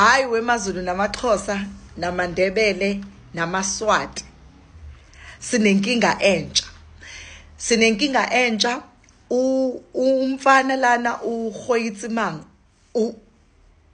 Hayi wemaZulu namaXhosa namaNdebele namaSwati sinenkinga entsha sinenkinga entsha umfana lana uhoyitsimanga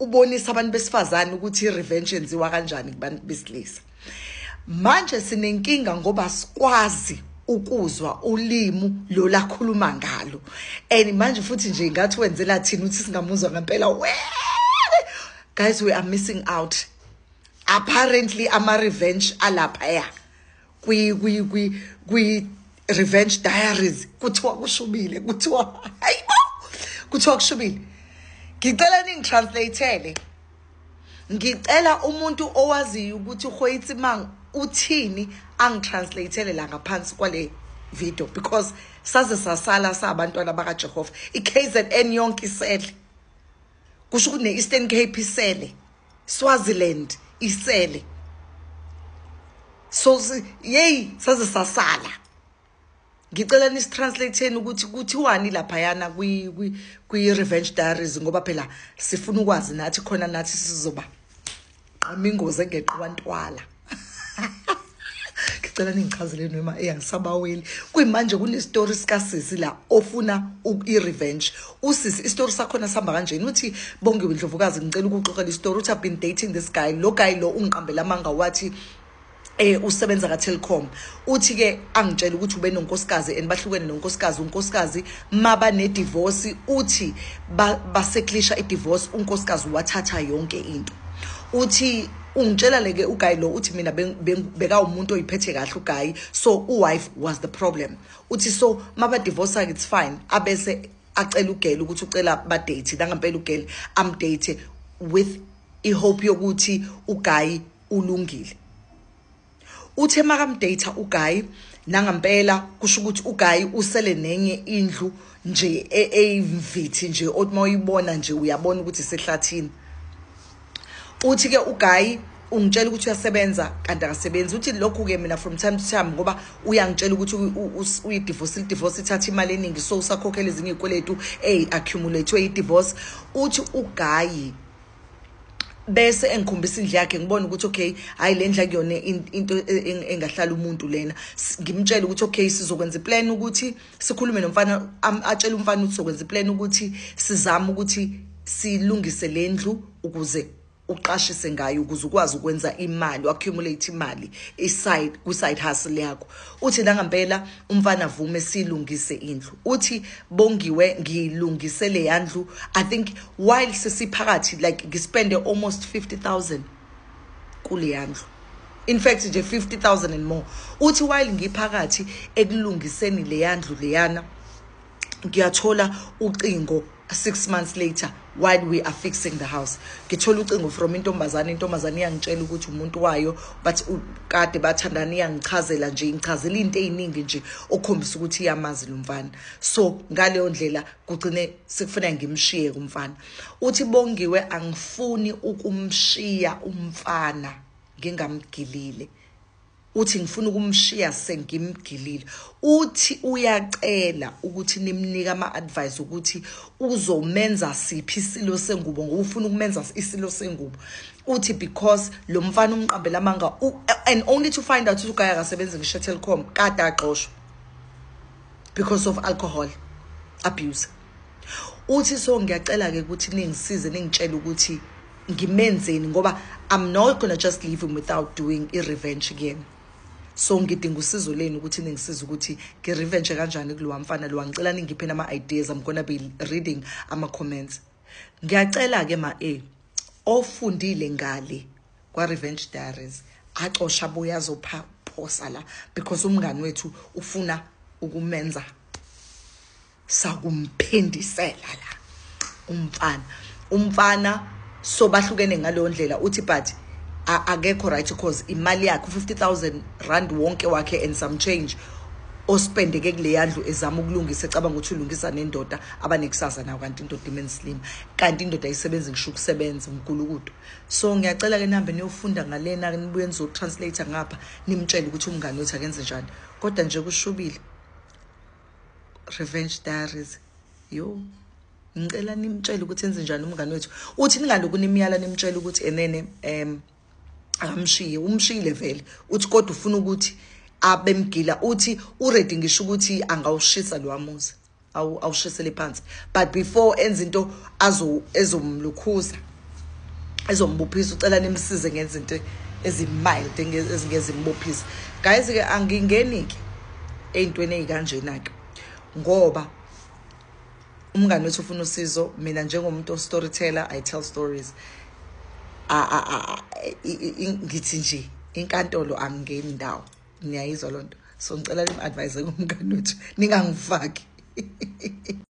ubonisa abantu besifazane ukuthi i-revenge yenziwa kanjani kubantu besilisa manje sinenkinga ngoba sikwazi ukuzwa ulimu lo lakhuluma ngalo and manje futhi nje ingathi wenzela thina ukuthi singamuzwa ngempela we guys we are missing out apparently ama revenge alapha ya kwi kwi kwi kwi revenge diaries kuthiwa kushubile kuthiwa hayibo kuthiwa kushubile ngicela ningitranslathele ngicela umuntu owaziyo ukuthi uhoyitsimang uthini angitranslathele la ngaphansi kwale video because saze sasala sabantwana bakajehova i-kzn yonke isele kusho ukuthi ne-eastern cape isele swaziland isele so yeyi saze sasala ngicela nisitranslate-eni ukuthi kuthiwani laphayana kwi-revenge diaries ngoba phela sifuna ukwazi nathi khona nathi sizoba qama ingozi engeqiwa ntwala ngicela ningichazele noma eyangisabaweli kuyimanje kunestori sikasisi la ofuna i-revenge usisi istori sakhona sihamba kanjeni uthi bongiwe ndlovukazi ngicela ukuxoxela istori uthi i've been dating this guy lo guy lo ungiqambela amanga wathi eh usebenza ka Telkom uthi ke angitshela ukuthi ube nonkosikazi and bahlukene nonkosikazi unkosikazi maba ne divorce uthi baseklisha i divorce unkosikazi wathatha yonke into uthi ungitshela leke uguy lo uthi mina beka umuntu oyiphethe kahle uguy so uwife was the problem uthi so maba divorce it's fine abese acela ugela ukuthi ucela ba date nangampela ugela am date with i hope yokuthi uguy uLungile. Uthe makamdata uGayi nangampela kusho ukuthi uGayi usele nenye indlu nje e, eyimvithi nje othi mawuyibona nje uyabona ukuthi sehlathini. Uthi ke uGayi ungitshela ukuthi uyasebenza kanti akasebenzi uthi lokhu ke mina from time to time ngoba uyangitshela ukuthi uyidivorce idivorce ithatha imali eningi so usakhokhela ezinye izikweletu ey accumulate idivorce uthi uGayi bese engikhombisa indle yakhe ngibona ukuthi okay hayi le ndle akuyona into engahlala umuntu lena ngimtshela ukuthi okay sizokwenza iplan ukuthi sikhulume nomfana atshela umfana ukuthi sizokwenza iplan ukuthi sizame ukuthi silungise le ndlu ukuze uqashise ngayo ukuze ukwazi ukwenza imali accumulate imali iside ku side hustle yakho uthi nangampela umfana avume silungise indlu uthi bongiwe ngilungise leya ndlu i think while sesiphakathi like ngispende almost 50000 kuleya ndlu in fact nje 50000 and more uthi while ngiphakathi ekulungiseni leya ndlu leyana ngiyathola ucingo 6 months later while we are fixing the house ngithola ucingo from intombazane intombazane iyangitshela ukuthi umuntu wayo but kade bathandana iyangichazela nje ingichazela into eziningi nje okhombisa ukuthi iyamazi lo mfana so ngaleyo ndlela kugcine sekufuna ngimshiye kumfana uthi bongiwe angifuni ukumshiya umfana ngingamgilile Uthi ngifuna ukumshiya sengimgilile. Uthi uyacela ukuthi nimnike ama-advice ukuthi uzomenza siphi isilo sengubo ngoba ufuna ukumenza isilo sengubo. Uthi because lo mfana umqambela amanga and only to find out ukuthi ugaya akasebenzi ngisho eTelkom kade axoshwa because of alcohol abuse. uthi so ngiyacela ke ukuthi ningisize ningitshele ukuthi ngimenzeni ngoba i'm not gonna just leave him without doing i-revenge kuyena so ngidinga usizo lenu ukuthi ningisize ukuthi ngi-revenge kanjani kulowa mfana lowa ngicela ningiphe nama-ideas i'm gonna be reading ama-comments ngiyacela-ke ma-a ofundile ngale kwa-revenge diaries acosha abuye azophosa la because umngani wethu ufuna ukumenza sakumphindisela la umfana umfana so bahlukene ngaleyo ndlela uthi but akekho right because imali yakhe u-50000 rand wonke wakhe and some change ospendeke kuleya ndlu ezama ukulungisa ecabanga ukuthi ulungisa nendoda abanekusasa nayo kanti indoda imenslima kanti indoda isebenza ngisho ukusebenza umgulukudu so ngiyacela ke nihambe niyofunda ngalena nibuye nizotranslate ngapha nimtshele ukuthi umngane wethu akenze njani kodwa nje kushubile revenge diaries yo ngicela nimtshele ukuthi enze njani umngane wethu uthi ningaloku nimyala nimtshela ukuthi enene um akamshiye umshiyile vele uthi kodwa ufuna ukuthi abemgila uthi uready ngisho ukuthi angawushisa lo amuzi awushisele phansi but before enza into azomlukhuza ezombophisa ucela nimsize ngenza into ezimild ezingezimbophisa guys ke angingeni ke eyintweni ezikanjena ke ngoba umngane wethu ufuna usizo mina njengomuntu ostoryteller i tell stories ngithi nje inkantolo angingeni ndawo niyayizwa lonto so ngicela lim advise kumngane wethu ningangifaki